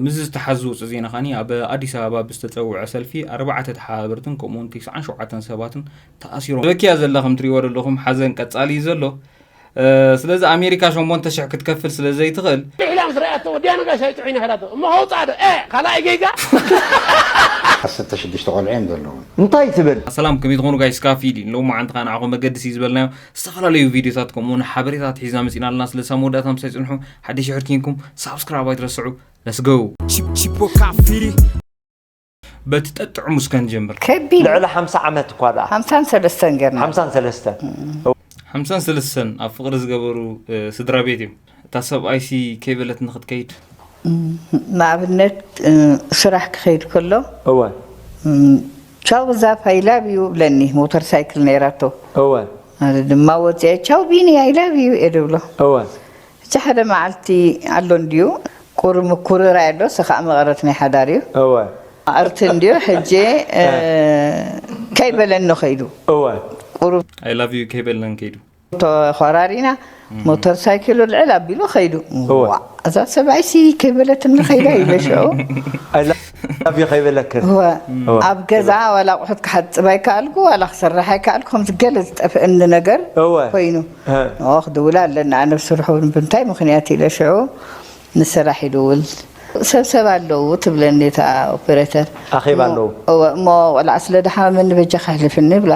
ምስዚ ዝተሓዝ ዝወፅእ ዜና ከኣ ኣብ ኣዲስ ኣበባ ብዝተፀውዐ ሰልፊ ኣርባዕተ ተሓባበርትን ከምኡ ውን ትስዓን ሸውዓተን ሰባትን ተኣሲሮም በኪያ ዘላ ከም ትሪእዎ ዘለኹም ሓዘን ቀጻሊ እዩ ዘሎ ስለዚ ኣሜሪካ 8000 ክትከፍል ስለ ዘይትኽእል ኢላ ምስ ረኣያቶ ወዲያ ነጋሽ ኣይጥዑይና ሄዳቶ እሞ ከውፅኣ ዶ እ ካልኣይ ጌጋ ዓሰርተ ሽዱሽተ ቆልዑ እዮም ዘለዎም እንታይ ትብል። ሰላም ከመይ ትኾኑ ጋይስ ካፊዲ ሎማዓንቲ ከኣ ንዓኹም መገዲ ሲ ዝበልናዮ ዝተፈላለዩ ቪድዮታት ከምኡ ውን ሓበሬታት ሒዝና መጺና ኣለና ስለዚ ሳብ መወዳእታ ምሳይ ጽንሑ ሓደሽ ድሕሪ ኪንኩም ሳብስክራይብ ኣይትረስዑ Let's go በቲ ጠጥዑሙ እስከ ንጀምር ከቢድ ልዕሊ ሓምሳ ዓመት እኳ ደኣ ሓምሳን ሰለስተን ገና ሓምሳን ሰለስተን ሓምሳን ሰለስተን ኣብ ፍቕሪ ዝገበሩ ስድራ ቤት እዮም እታ ሰብኣይሲ ከይ በለትኒ ክትከይድ። ንኣብነት ስራሕ ክኸይድ ከሎ እወ። ቻው ዛፍ ኣይ ላቭ ዩ ይብለኒ ሞተር ሳይክል ነይራቶ እወ። ኣነ ድማ ወጺኤ ቻው ቢኒ ኣይ ላቭ ዩ እየ ድብሎ። እወ። ሕጂ ሓደ መዓልቲ ኣሎ እንድዩ ቁሪ ምኩርራይ ኣሎ እሱ ከኣ መቐረት ናይ ሓዳር እዩ። እወ። ኣርቲ እንድዩ ሕጂ ከይ በለኒ ከይዱ። እወ። ቁሩብ። ኣይ ላቭ ዩ ከይ በለኒ ከይዱ። ተኾራሪና ሞተር ሳይክሉ ልዕል ኣቢሉ ከይዱ እወ። ዋእ እዛ ሰብኣይሲ ከይበለትኒ ከይዳ ኢለ ሽዑ ኣይ ላቭ ዩ ከይበለክን እወ እወ። ኣብ ገዛ ዋላ ኣቑሑት ክሓፅብ ኣይከኣልኩ ዋላ ክሰርሕ ኣይከኣልኩ ከምዚ ገለ ዝጠፍአኒ ነገር እወ። ኮይኑ እ። ንኦ ክድውላ ኣለኒ ኣነ ብስርሑ ብምንታይ ምኽንያት ኢለ ሽዑ ንስራሕ ይድውል ሰብሰብ ኣለዉ ትብለኒ እታ ኦፔሬተር ኣኼባ ኣለዉ። እወ እሞ ቆልዓ ስለ ድሓመመኒ በጃኻ ኣሕልፍኒ ይብላ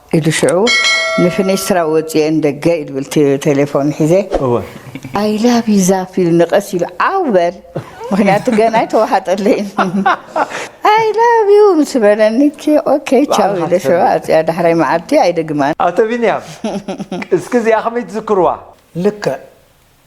ኢሉ ሽዑ ንፊኒስትራ ወጺኤ ንደገ ኢድብል ቴሌፎን ሒዘ እወ ኣይ ላቭ ዩ ዛፍ ኢሉ ንቐስ ኢሉ ዓው በል ምክንያቱ ገና ኣይተዋሓጠለይን ኣይ ላቭ ዩ ምስ በለኒ ኦኬ ቻው ባዕልኻ ኢለ ሽዑ ትፈልጥ። ኣጽያ ዳሕራይ መዓልቲ ኣይደግማን ኣቶ ቢንያም እስኪ እዚኣ ከመይ ትዝክርዋ ልክዕ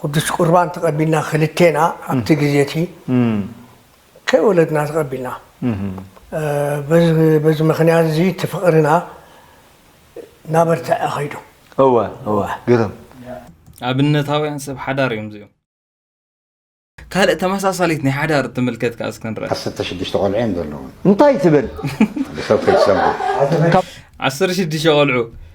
ቅዱስ ቍርባን ተቐቢልና ክልቴና ኣብቲ ግዜ እቲ ከይወለድና ተቐቢልና። በዚ ምኽንያት እዚ እቲ ፍቕርና እናበርትዐ ከይዱ። እወ እወ ግርም። ኣብነታውያን ሰብ ሓዳር እዮም እዚኦም። ካልእ ተመሳሳሊት ናይ ሓዳር እትምልከት ከኣ እስከ ንርኣ። ዓሰርተ ሽዱሽተ ቆልዑ እዮም ዘለዉኒ። እንታይ ትብል? ሓደ ሰብ ከይትሰምዑ። ዓሰርተ ሽዱሽተ ቆልዑ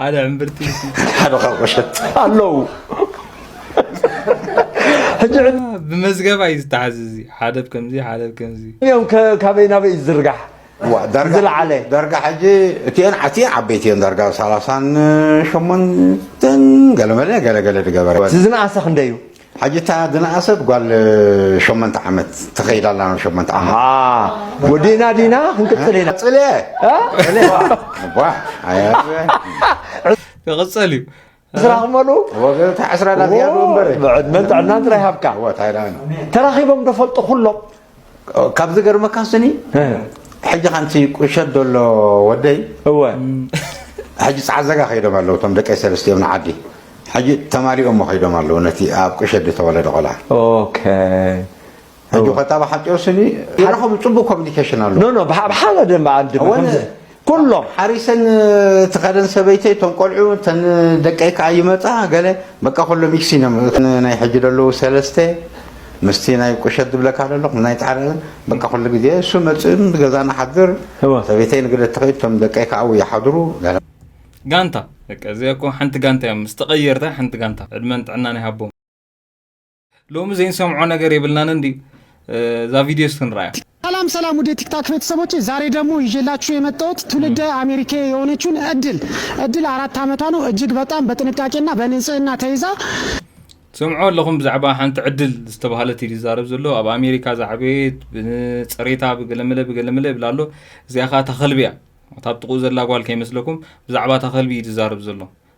ሓደ ዕምብርቲ ሓደ ካብ ቁሸት ኣለዉ ሕጂ ብመዝገባ እዩ ዝተሓዝ እዚ ሓደ ከምዚ ሓደ ከምዚ እዮም ካበይ ናበይ እዩ ዝርጋሕ ዝለዓለ ዳርጋ ሕጂ እቲአን ዓትየን ዓበይቲ እየን ዳርጋ ሰላሳን ሸሞንተን ገለመለ ገለገለ ዝገበረ እቲ ዝነኣሰ ክንደይ እዩ ሐጂ እታ ዝነኣሰት ጓል ሸሞንተ ዓመት ተኸይድ ኣላ ናብ ሸሞንተ ዓመት ኣሃ ወዲእና ዲና ክንቅጽል ኢና ጽለ ጽለ ዋ ኣያ ክቕጸል እዩ ስራሕ ክመሉ ወገታ ዕስራ ዳዝያዶ እምበር ብዕድመን ጥዕናን ጥራይ ሃብካ እዎ ታይላንድ ተራኺቦም ዶ ፈልጡ ኩሎም ካብ ዝገርመካ ስኒ ሕጂ ሓንቲ ቁሸት ዘሎ ወደይ እወ ሕጂ ጻዕዘጋ ከይዶም ኣለዉ እቶም ደቀይ ሰለስቲኦም ንዓዲ ሕጂ ተማሊኦሞ ከይዶም ኣለዉ ነቲ ኣብ ቁሸት ዝተወለደ ቆልዓ ኦኬ ሕጂ ኮታ ብሓጨው ስኒ ይረኸቡ ጽቡቅ ኮሚኒኬሽን ኣለዎ ኖ ኖ ብሓደ በዓል ድማ ኩሎም ሓሪሰን ትኸደን ሰበይተይ እቶም ቆልዑ እተን ደቀይ ከኣ ይመጻ ገለ በቃ ኩሎም ይክሲን እዮም እቲ ናይ ሕጂ ዘለዉ ሰለስተ ምስቲ ናይ ቁሸት ዝብለካ ዘለኹ ናይ ጻዕዳ በቃ ኩሉ ግዜ እሱ መጽእም ገዛ ንሓድር እወ ሰበይተይ ንግደ ትኸይድ እቶም ደቀይ ከኣ ኣብኡ ይሓድሩ ገለ ጋንታ በቃ እዚኣ እኮ ሓንቲ ጋንታ እያ ምስ ተቐየርታ ሓንቲ ጋንታ ዕድመን ጥዕናን ይሃቦም። ሎሚ ዘይንሰምዖ ነገር የብልናን እንዲ እዛ ቪድዮ ስትንራያ ሰላም ሰላም ውድ የቲክታክ ቤተሰቦች፣ ዛሬ ደግሞ ይዤላችሁ የመጣሁት ትውልደ አሜሪካ የሆነችውን እድል እድል አራት ዓመቷ ነው። እጅግ በጣም በጥንቃቄና በንጽህና ተይዛ ትሰምዖ ኣለኹም ብዛዕባ ሓንቲ ዕድል ዝተባሃለት እዩ ዝዛረብ ዘሎ ኣብ ኣሜሪካ ዛዕበየት ብፅሬታ ብገለመለ ብገለመለ ይብላ ኣሎ እዚኣ ከዓ ታኸልቢ እያ እታ ብጥቕኡ ዘላ ጓል ከይመስለኩም ብዛዕባ ታኸልቢ እዩ ዝዛረብ ዘሎ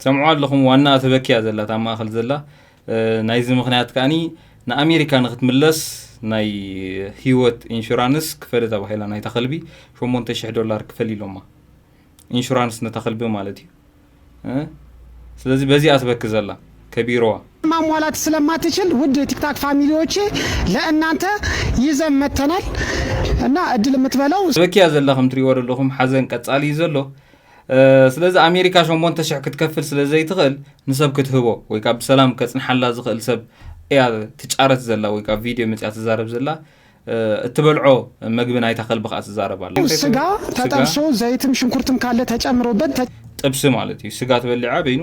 ትሰምዕዋ ኣለኹም ዋና ትበኪ እያ ዘላ ኣብ ማእኸል ዘላ ናይዚ ምክንያት ከዓኒ ንኣሜሪካ ንክትምለስ ናይ ህይወት ኢንሹራንስ ክፈሊ ተባሂላ ናይታ ከልቢ 8000 ዶላር ክፈሊ ኢሎማ ኢንሹራንስ ነታ ከልቢ ማለት እዩ ስለዚህ በዚኣ ትበክ ዘላ ከቢሮዋ ማሟላት ስለማትችል ውድ ቲክታክ ፋሚሊዎቼ ለእናንተ ይዘን መተናል እና እድል የምትበለው በኪያ ዘላ ከም ትሪእዎ ዘለኹም ሓዘን ቀጻሊ እዩ ዘሎ ስለዚ ኣሜሪካ ሸሞንተ ሽሕ ክትከፍል ስለ ዘይትኽእል ንሰብ ክትህቦ ወይ ከዓ ብሰላም ከፅንሓላ ዝኽእል ሰብ እያ ትጫረት ዘላ ወይ ከዓ ቪድዮ መፅያ ትዛረብ ዘላ እትበልዖ መግቢ ናይታ ከልቢ ከዓ ትዛረብ ኣላ ስጋ ተጠብሶ ዘይትን ሽንኩርትን ካለ ተጨምሮበት ጥብሲ ማለት እዩ ስጋ ትበሊዓ በይኑ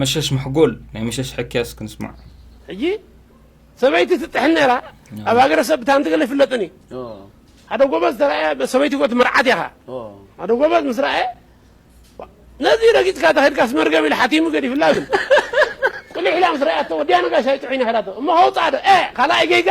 መሸሽ መሕጎል ናይ መሸሽ ሕክያስ ክንስማዕ ሕጂ ሰበይቲ ትጥሕን ነይራ ኣብ ሃገረሰብ ብታን ትገለ ይፍለጥን እዩ ሓደ ጎበዝ ተረኣየ ሰበይቲ ጎት መርዓት ያኻ ሓደ ጎበዝ ምስ ረኣየ ነዚ ረጊፅካ ተኸድካስ መርገም ኢሉ ሓቲሙ ገዲፍላ ግን ቁሊሕ ኢላ ምስ ረኣያቶ ወዲያ ነጋሽ ኣይጥዑይን ይኸዳቶ እሞ ከውፅኣ ዶ ካልኣይ ገይጋ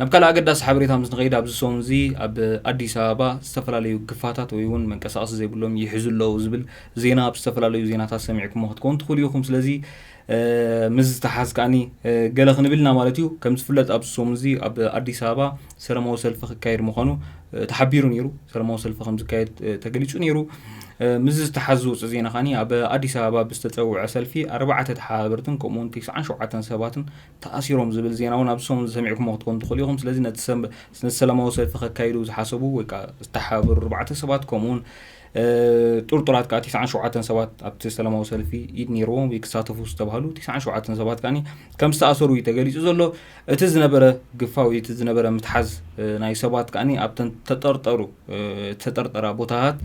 ናብ ካልእ ኣገዳሲ ሓበሬታ ምስ ንኸይድ ኣብዚ ሰሙን እዚ ኣብ ኣዲስ ኣበባ ዝተፈላለዩ ግፋታት ወይ እውን መንቀሳቐሲ ዘይብሎም ይሕዙ ኣለዉ ዝብል ዜና ኣብ ዝተፈላለዩ ዜናታት ሰሚዕኩሞ ክትከውን ትኽእሉ ኢኹም ስለዚ ምስ ዝተሓዝ ከዓኒ ገለ ክንብል ኢና ማለት እዩ ከም ዝፍለጥ ኣብዚ ሰሙን እዚ ኣብ ኣዲስ ኣበባ ሰለማዊ ሰልፊ ክካየድ ምዃኑ ተሓቢሩ ነይሩ ሰለማዊ ሰልፊ ከም ዝካየድ ተገሊጹ ነይሩ ምስ ዝተሓዝ ዝውፅእ ዜና ከዓኒ ኣብ ኣዲስ ኣበባ ብዝተፀውዐ ሰልፊ ኣርባዕተ ተሓባበርትን ከምኡውን 97 ሰባትን ተኣሲሮም ዝብል ዜና እውን ኣብዚ ሰሙን ሰሚዕኩሞ ክትኮኑ ትኽእሉ ኢኹም። ስለዚ ነቲ ሰላማዊ ሰልፊ ከካይዱ ዝሓሰቡ ወይ ከዓ ዝተሓባበሩ ኣርባዕተ ሰባት ከምኡ እውን ጥርጡራት ከዓ ትስዓን ሸውዓተን ሰባት ኣብቲ ሰላማዊ ሰልፊ ኢድ ነይርዎም ወይ ክሳተፉ ዝተባሃሉ ትስዓን ሸውዓተን ሰባት ከዓ ከም ዝተኣሰሩ እዩ ተገሊፁ ዘሎ። እቲ ዝነበረ ግፋ ወይ እቲ ዝነበረ ምትሓዝ ናይ ሰባት ከዓ ኣብተን ተጠርጠሩ ተጠርጠራ ቦታታት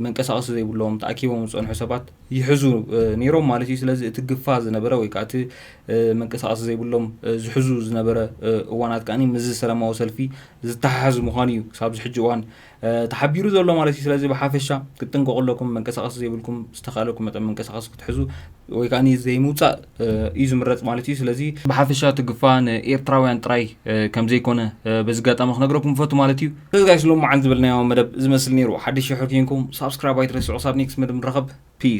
መንቀሳቐሲ ዘይብሎም ተኣኪቦም ዝፀንሑ ሰባት ይሕዙ ነይሮም ማለት እዩ። ስለዚ እቲ ግፋ ዝነበረ ወይ ከዓ እቲ መንቀሳቐሲ ዘይብሎም ዝሕዙ ዝነበረ እዋናት ከዓ ምስዚ ሰላማዊ ሰልፊ ዝተሓሓዝ ምዃኑ እዩ ክሳብ ዝሕጂ እዋን ተሓቢሩ ዘሎ ማለት እዩ። ስለዚ ብሓፈሻ ክትጥንቀቑ ኣለኩም። መንቀሳቐሲ ዘይብልኩም ዝተኻእለኩም መጠን መንቀሳቐሲ ክትሕዙ ወይ ከዓ ዘይምውፃእ እዩ ዝምረፅ ማለት እዩ። ስለዚ ብሓፈሻ እቲ ግፋ ንኤርትራውያን ጥራይ ከምዘይኮነ በዚ ኣጋጣሚ ክነግረኩም ፈቱ ማለት እዩ። ስለዚ ጋይስ ሎሚ መዓልቲ ዝበልናዮ መደብ ዝመስል ነይሩ። ሓድሽ ሽሕር ኬንኩም ሳብስክራይብ ኣይትረስዑ። ክሳብ ኔክስት መደብ ንራኸብ። ፒስ